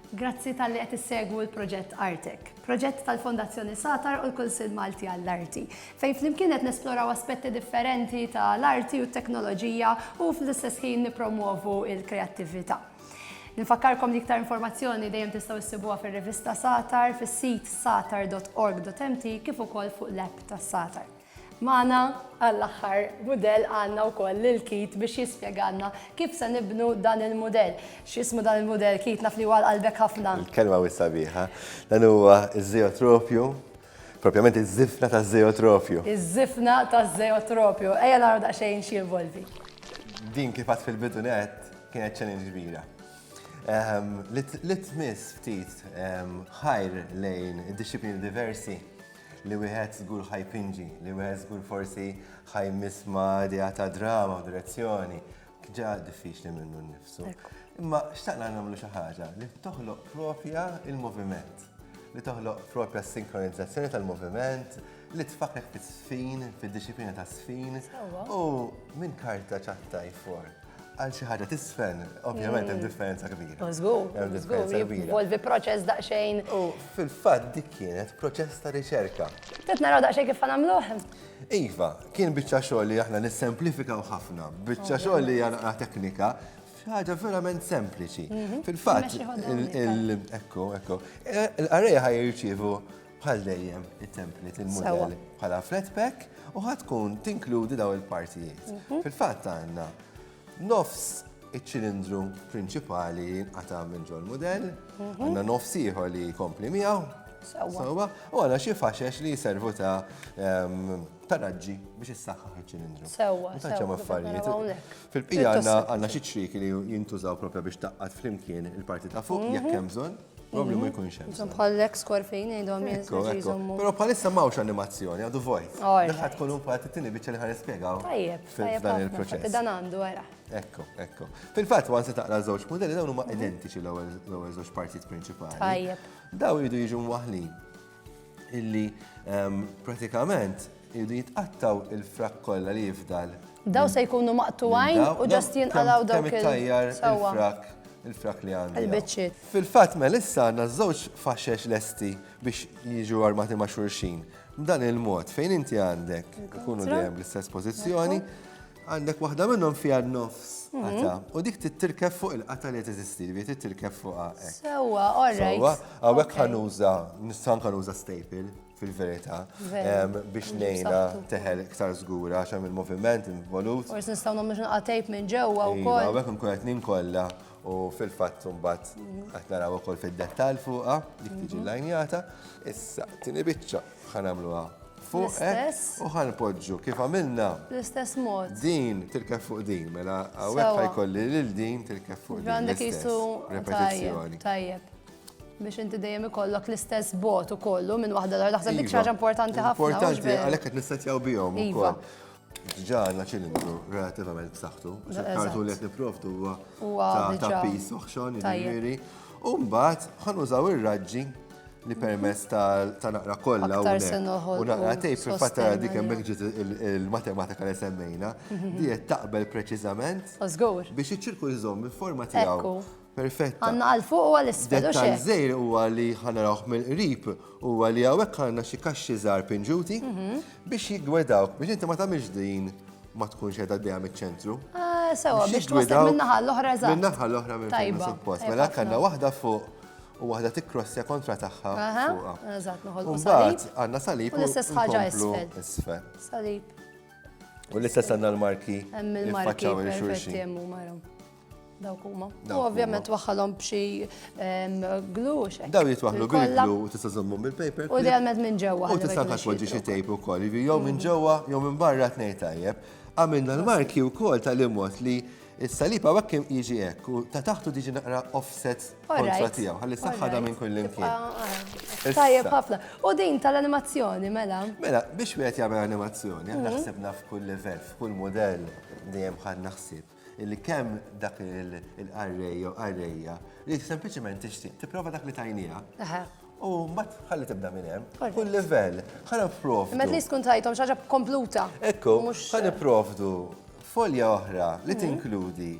Grazzi talli qed issegwu l-proġett Artek, proġett tal-Fondazzjoni Satar u l-Kunsill Malti għall-Arti, fejn flimkien qed nesploraw aspetti differenti ta' l-arti u t-teknoloġija u fl-istess ħin nippromwovu l-kreattività. Nfakkarkom li iktar informazzjoni dejjem tistgħu issibuha fir-rivista Satar, fis-sit satar.org.mt kif ukoll fuq l-app tas-Satar. Magħna għall-aħħar mudell għandna wkoll lil Keith biex jispjegalna kif se nibnu dan il-mudell. X'ismu dan il-mudell Keith naf li hu għal qalbek ħafna. Il-kelma wisq sabiħa. Dan huwa ż-żejotropju, propjament iż-żifna taż-żejotropju. Iż-żifna taż-żejotropju. Ejja naraw daqsxejn xi jinvolvi. Din kif għedt fil-bidu nett kienet challenge kbira. Li tmiss ftit ħajr lejn id-dixxiplini diversi. li wieħed żgur ħa jpinġi, li wieħed żgur forsi ħa jmiss ma' idea ta' drama u direzzjoni, ġa diffiċli minnu nnifsu. Imma xtaqna nagħmlu xi ħaġa li toħloq propja il-moviment, li toħloq propja s-sinkronizzazzjoni tal-moviment, li tfakek fis-sfin, fid-disciplina ta' sfin, u minn karta ċatta jfor. Għal xi ħaġa tisfen, ovvjament hemm mm. differenza kbira. Mażgur, mażgur, jinvolvi proċess daqsxejn. U fil-fatt dik kienet proċess ta' riċerka. Tet naraw daqsxejn kif nagħmluh. Iva, kien biċċa xogħol li aħna nissemplifikaw ħafna, biċċa xogħol li hija teknika, ħaġa verament sempliċi. Mhm. Fil-fatt, ekku, ekku, l-arreja ħaj jirċivu Bħal dejjem it-template il-modell bħala flat pack u ħatkun tinkludi daw il-partijiet. Mhm. Fil-fatt għandna nofs iċ-ċilindru prinċipali jinqata' minn ġol modell, mhm. għandna nofs ieħor li jkompli miegħu. Sawa. U għana xie faxex li jiservu ta' ehm, taraġġi biex jissaxħaħ il-ċilindru. Sawa. Taċċa maffarijiet. Fil-pija għanna xie ċriki li jintużaw propja biex taqqat flimkien il-parti ta' fuq, jekk mhm. hemm bżonn. Probabli ma mhm. jkunx hemm. Ġon bħal l-ex korfin jgħidhom jizommu. Però bħalissa m'hawnx animazzjoni, għadu vojt. Daħħa tkun un parti tini biċċa li ħanispjegaw. Tajjeb, dan il-proċess. Dan għandu għara. Ekko, ekko. Fil-fatt wan se taqra żewġ modelli dawn huma mhm. identiċi l-ewwel żewġ partijiet prinċipali. Tajjeb. Daw jridu jiġu mwaħlin. illi ehm, pratikament irridu jitqattaw il-frak kollha li jifdal. Daw se jkunu maqtuwajn u ġast jinqalaw daw il-tajjar il-frak il-frak li għandu. Il-bicċiet. Fil-fatt mel issa għandna żewġ faxex lesti biex jiġu armati ma' xurxin. B'dan il-mod fejn inti għandek ikunu dejjem l-istess pożizzjoni, Għandek waħda minnhom fiha n-nofs qata' u dik tittirkeb fuq il-qata' li teżisti, ġifieri tittirkeb fuqha hekk. Sewwa, all right. Sewwa, hawnhekk ħa nuża, nista' anke nuża staple fil-verità biex ngħinha teħel iktar żgura għax hemm il-moviment involut. Forsi nistgħu nagħmlu xi naqgħa tape minn ġewwa wkoll. Hawnhekk nkun qed ninkolla u fil-fatt imbagħad qed naraw ukoll fid-dettall fuqha dik tiġi lajnjata. Issa, tieni biċċa. Ħanamluha fuq u ħanpoġġu kif għamilna. L-istess mod. Din tirkef fuq din, mela għawek ħajkolli lil din tirkef fuq din. Għandek jisu repetizzjoni. Tajjeb. Biex inti dejjem ikollok l-istess bot u kollu minn waħda l-għar. Daħseb dik xaġa iva. importanti ħafna. Importanti, għalek qed nistatjaw bihom. Iva. Ġa għandna ċilindru relativament b'saħħtu, kartun li qed nipprovdu huwa ta' pis oħxon, jiġifieri. U mbagħad ħanużaw ir-raġġi li permess ta' naqra kollha u naqra tejp fil-fatt tara dik hemmhekk ġiet il-matematika li semmejna, mhm. diet taqbel preċiżament biex iċ-ċirku jżomm il-forma tiegħu. perfetta. Għanna għal fuq u għal isfel u xek. Zejr huwa li ħanarawh mill-qrib huwa li hawnhekk għandna xi kaxxi żgħar pinġuti mhm. biex jiggwedawk biex inti ma tagħmilx din ma tkunx qiegħda dejja miċ-ċentru. Ah, sewa biex twassal min-naħa l-oħra eżatt. Min-naħa l-oħra minn fejn suppost. Mela għandna waħda fuq u waħda tikrossja kontra tagħha fuqha. Eżatt, noħolqu salib. Għandna salib u l-istess ħaġa isfel. Salib. U l-istess għandna l-marki. Hemm il-marki. Faċċaw il-xulxin. Dawk huma. U ovvjament waħħalhom b'xi glu xek. Daw jitwaħlu bil-glu u tista' żommhom bil-paper. U dejjem minn ġewwa. U tista' taxwaġġi xi tejp ukoll, jiġri jew minn ġewwa jew minn barra tnej tajjeb. Għamilna l-marki wkoll tal-imot li Is-salib għawek kim jiġi hekk u ta' taħtu diġi naqra offset kontra tiegħu, ħalli saħħada minn kull imkien. Tajjeb ħafna. U din tal-animazzjoni mela? Mela, biex wieħed jagħmel animazzjoni, aħna mhm. ħsibna f'kull livell, f'kull mudell dejjem ħadna ħsieb. Illi kemm dak il-qarrej jew qarrejja li sempliċement tixtieq tipprova dak li tajniha. U mbagħad ħalli tibda minn hemm. Kull livell, ħana provdu. Met li tkun tajthom xaġa kompluta. Ekku, ħana provdu folja oħra li mhm. tinkludi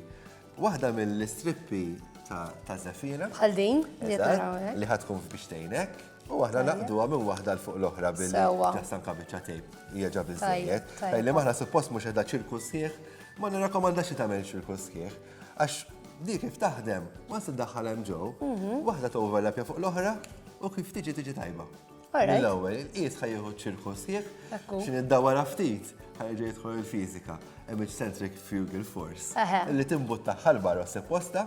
waħda mill-istrippi ta' Zafina. Bħal din, li ħatkun biex tgħinek. U aħna naqduha minn waħda l fuq l-oħra billi Sewwa. taħsan kabiċċa tejb. Hija ġa biżżejjed. tajjeb. Għajli maħna suppost mhux qiegħda ċirku sħiħ, ma nirrakkomandax li tagħmel ċirku sħiħ. Għax di kif taħdem, ma se daħħal hemm ġew, Mhm. waħda toverlapja fuq l-oħra u kif tiġi tiġi tajba. Alright. Mill-ewwel, il-qies ħajjieħu ċirku sħiħ, Ekku. xi niddawara ftit, ħajġi jidħol il-fiżika, image centric fugal force, Eħe. li timbutta ħalbar u sepposta,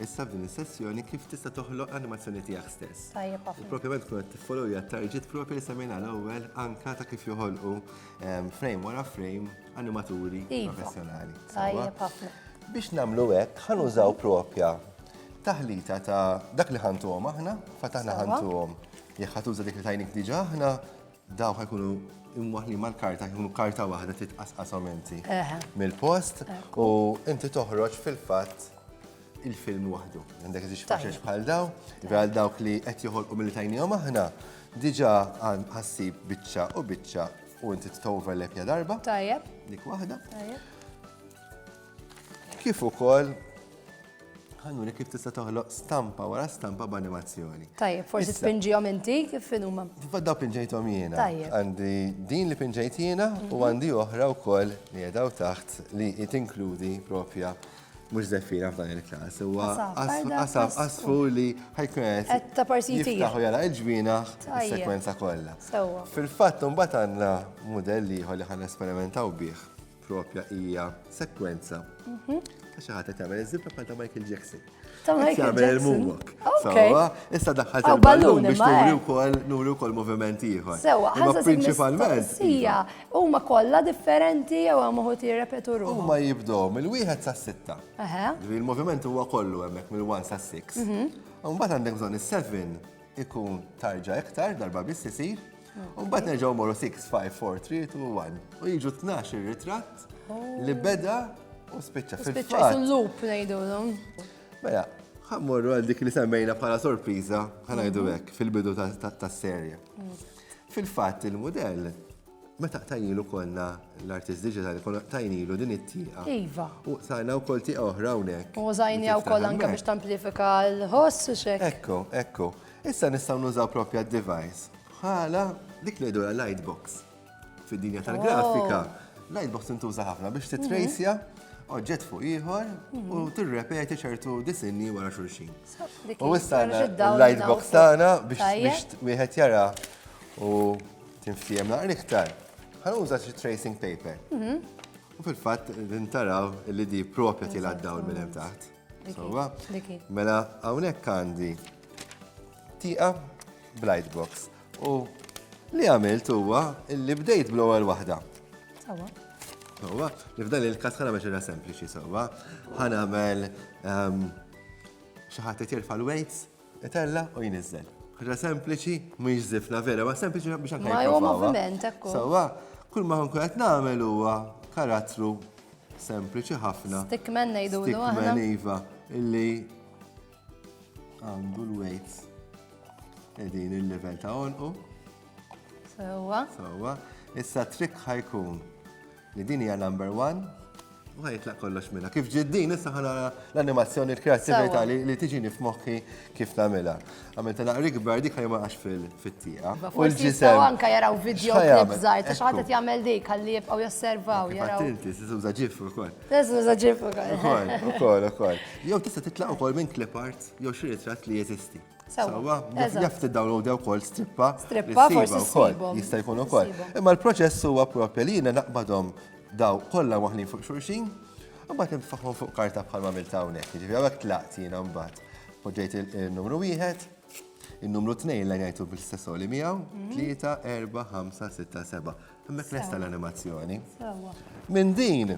Issa f'din is-sessjoni kif tista' toħloq l-animazzjoni tiegħek stess. Tajjeb ħafna. Propjament tkun qed tiffolowja target propri li semmejna l-ewwel anka ta' kif joħolqu ehm, frame wara frame animaturi iva. professjonali. Tajjeb ħafna. Biex nagħmlu hekk ħanużaw propja taħlita ta' dak li ħantuhom aħna, fatt aħna ħantuhom jekk ħatuża dik li tajnik diġà aħna Dawk ħajkunu imwaħli mal-karta, ħajkunu karta waħda titqasqashom inti mill-post u inti toħroġ fil-fatt il-film waħdu. Għandek iżix faċex bħal daw, għal dawk li qed joħolqu mill tajnijom aħna, diġa għan ħassib biċċa u biċċa u inti t-overlap ja darba. Tajjeb. Dik waħda. Tajjeb. Kif ukoll Ħanuri kif tista' toħloq stampa wara stampa b'animazzjoni. Tajjeb, forsi spinġihom inti kif inhuma. Fadda pinġejthom jiena. Tajjeb. Għandi din li pinġejt jiena u mhm. għandi oħra wkoll li jedaw taħt li tinkludi propja mux zeffira f'dan il-kas. Huwa qasab qasfu li ħajkun qed ta' parsiti. Jiftaħu jara l-ġbina s-sekwenza kollha. Fil-fatt mbagħad għandna mudell ieħor li ħan esperimentaw bih propja hija sekwenza mhm. ta' xi ħadd tagħmel iż-żibra bħal ta' Michael Jackson. Ta' Michael Jackson. il-moonwalk. Sawa, issa daħħalt il-ballun biex nuri eh. wkoll nuri wkoll moviment ieħor. Sewa, ħaża prinċipalment. Hija huma kollha differenti jew hemm uħud jirrepetu ruħhom. Huma jibdew mill-wieħed sas-sitta. Il-moviment huwa kollu hemmhekk mill-1 sas-6. Mhm. Mbagħad għandek bżonn is-7 ikun tarġa iktar darba biss isir. Mbagħad nerġgħu morru 6, 5, 4, 3, 2, 1. U jiġu 12 ir-ritratt li oh. beda u spiċċa fil-fatt. loop ngħidulhom. Mela, ħammorru għal dik li semmejna bħala sorpriża ħanajdu mhm. hekk fil-bidu tas-serje. Mm. Fil-fatt il-mudell meta tajnilu konna l-artist digitali, konna tajnilu din it-tieqa. Iva. U sajna u kol tieqa oħra unek. U zajni u kol anka biex tamplifika l-ħoss u xek. Ekko, ekko. Issa nistgħu nużaw propja device bħala dik li jdur lightbox. Fid-dinja tal-grafika, oh. lightbox intuża ħafna biex mhm. titrejsja oġġett fuq ieħor u mhm. tirrepeti ċertu disinni wara xulxin. U issa lightbox tagħna biex wieħed jara u tinfiem naqra iktar. Ħanuża xi tracing paper. Mhm. U fil-fatt din taraw li di propja tilgħaddaw minn hemm taħt. Sewwa? Mela hawnhekk għandi tieqa blight box. U li għamilt huwa li bdejt bl-ewwel waħda. Sewwa. Sewwa, li f'dan il-każ ħana biex ira sempliċi sewwa. Ħana għamel ehm, xi ħadd qed jerfa' l-weights Itella' u jniżżel. Ħaġa sempliċi, mhix żifna vera, ma sempliċi biex anke. Ma huwa moviment, ekku. Sewwa, kull ma nkun qed nagħmel huwa karattru sempliċi ħafna. Stickman ngħidu l Stickman iva, illi għandu l-weights. Edin il-level ta' onqu. Sewwa. Sewwa. Issa trick ħajkun Li din hija number one u ħajtlaq kollox minna. Kif ġid din, issa ħana l-animazzjoni l-kreativita li tiġini f'moħħi kif namela. Għamil ta' naqri kbar dik ħajma għax fil-tija. U l-ġisem. Anka jaraw video klip zaħir, ta' xaħat jgħamil dik għalli jibqaw josservaw. Inti, s-sizu zaġif u kol. S-sizu zaġif u kol. U kol, u kol. Jow tista titlaq u kol minn klip art, jow xirri trat li jeżisti. Sawa, jaf t-download u kol strippa. Strippa, forsi kol. Jista' jkun ukoll. Imma l-proċess huwa propja li jiena naqbadhom daw kollha waħnin fuq xulxin, u bat nfaħħom fuq karta bħal ma milta hawnhekk. Ġifieri hawnhekk tlaqt jiena mbagħad. Poġġejt il-numru wieħed, il-numru tnejn li ngħidu bil-istess li miegħu, 3, 4, 5, 6, 7. Hemmhekk lesta l-animazzjoni. Minn din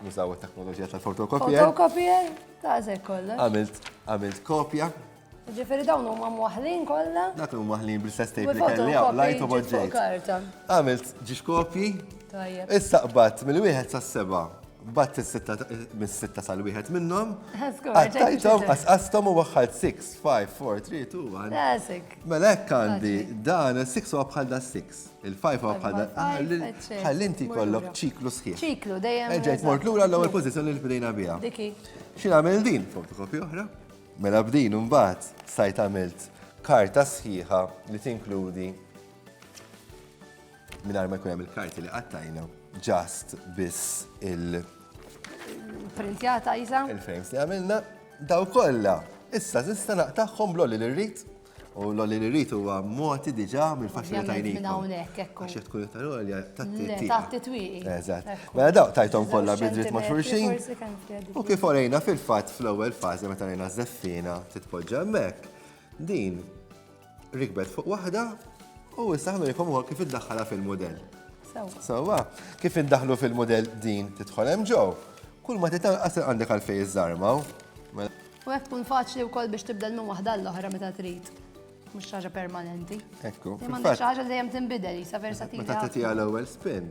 Nużaw it-teknoloġija tal-fotokopier. Fotokopier, tażek kollha. Għamilt, għamilt kopja. Ġifieri dawn huma mwaħlin kollha. Dak huma mwaħlin bl-istess tejp li kelli hawn lajt u boġġejt. Għamilt ġiex kopji. Issa qbad mill-wieħed sas-seba' bat mis-sitta sal-wieħed minnhom. Għattajtom, għasqastom u waħħalt 6, 5, 4, 3, 2, 1. Melek għandi dan 6 u bħal da 6. Il-5 għaw bħal ħalli inti kollok ċiklu sħiħ. ċiklu, dejjem. Eġejt mort lura l-ewwel pożizzjoni li bdejna biha. Diki. Xi nagħmel din fotokopi oħra? Mela b'din imbagħad sajt għamilt karta sħiħa li tinkludi minn ma jkun hemm il-karti li qattajna ġast biss il- Printjata jisa? Il-frames li għamilna daw kollha. Issa nista' naqtagħhom blolli li rrid. U l-għoli li rrit huwa moti diġa mill-faċilità jlin. Minn hawnhekk ekku. Għax tkun iktar għolja tatti twiqi. Tatti twiqi. Eżatt. Mela dawk tajthom kollha bidrit ma' xulxin. U kif orejna fil-fatt fl-ewwel fażi meta rejna żeffina titpoġġa hemmhekk. Din rikbet fuq waħda u issa ħnurikom ukoll kif iddaħħalha fil-mudell. Sewwa. Kif iddaħlu fil-mudell din tidħol hemm ġew. Kull ma titanqas għandek għalfejn iżarmaw. Mela, U hekk tkun faċli wkoll biex tibdel minn waħda għall-oħra meta trid. Mhux ħaġa permanenti. Ekku. Imma xi ħaġa li dejjem tinbidel, sa versatili. Meta tagħtiha l-ewwel spin,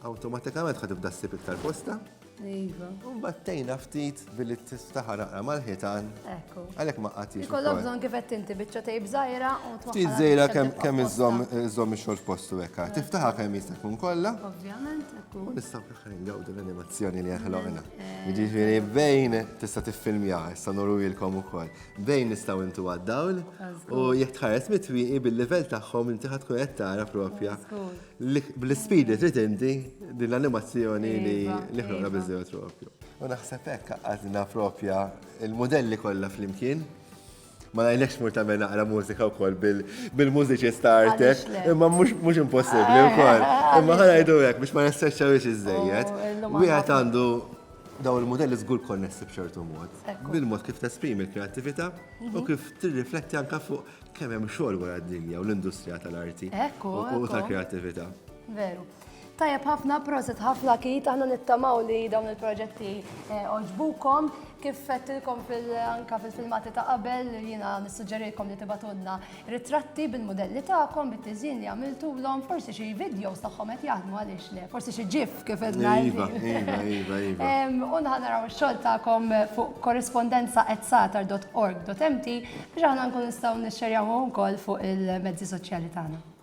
awtomatikament ħad tibda ssib iktar posta. Iva. Mbagħad tejna ftit billi tiftaħa naqra mal-ħitan. Ekku. Għalhekk ma qatix. Ikollok bżonn kif qed inti biċċa tejb żgħira u twaħħal. Ftit żgħira kemm iżżomm ix-xogħol f'postu hekk. Tiftaħa kemm jista' jkun kollha. Ovvjament, ekku. Ngawdu l-animazzjoni li ħloqna. Jiġifieri bejn tista' tiffilmja, issa norwilkom ukoll. Bejn nistgħu intu għad-dawl u jekk tħares mitwieqi bil-livell tagħhom inti ħadd tkun qed tara propja bl-ispidi trid inti din l-animazzjoni li ħloqna biżżejjed iva. propju. U naħseb hekk għaqadna propja il-mudelli kollha flimkien. Ma ngħidlekx mur tagħmel naqra mużika wkoll bil-mużiċist ta' artek, imma mhux impossibbli eh, wkoll. Eh, imma ħana jgħidu hekk biex ma nistreċċawiex iżejjed. Oh, Wieħed għandu daw il-modelli żgur konnessi b'ċertu mod. Bil-mod kif tesprimi l-kreattività u mhm. kif tirrifletti anke fuq kemm hemm xogħol wara d-dinja u l-industrija tal-arti u tal-kreattività. Veru. Tajab ħafna, proset ħafna kit, aħna nittamaw li dawn il-proġetti eh, oġbukom, kif fettilkom anka fil-filmati ta' qabel, jina nissuġġerikom li tibatunna ritratti bil-modelli ta'kom, bit-tizin li għamiltu l-om, forsi xie videos tagħhom qed jaħdmu għaliex le, forsi xie ġif kif qed iva, iva, iva, iva, iva. U naraw ix-xogħol tagħkom fuq korrespondenza etsatar.org.mt biex aħna nkun nistgħu nixxerjaw ukoll fuq il-mezzi soċjali tagħna.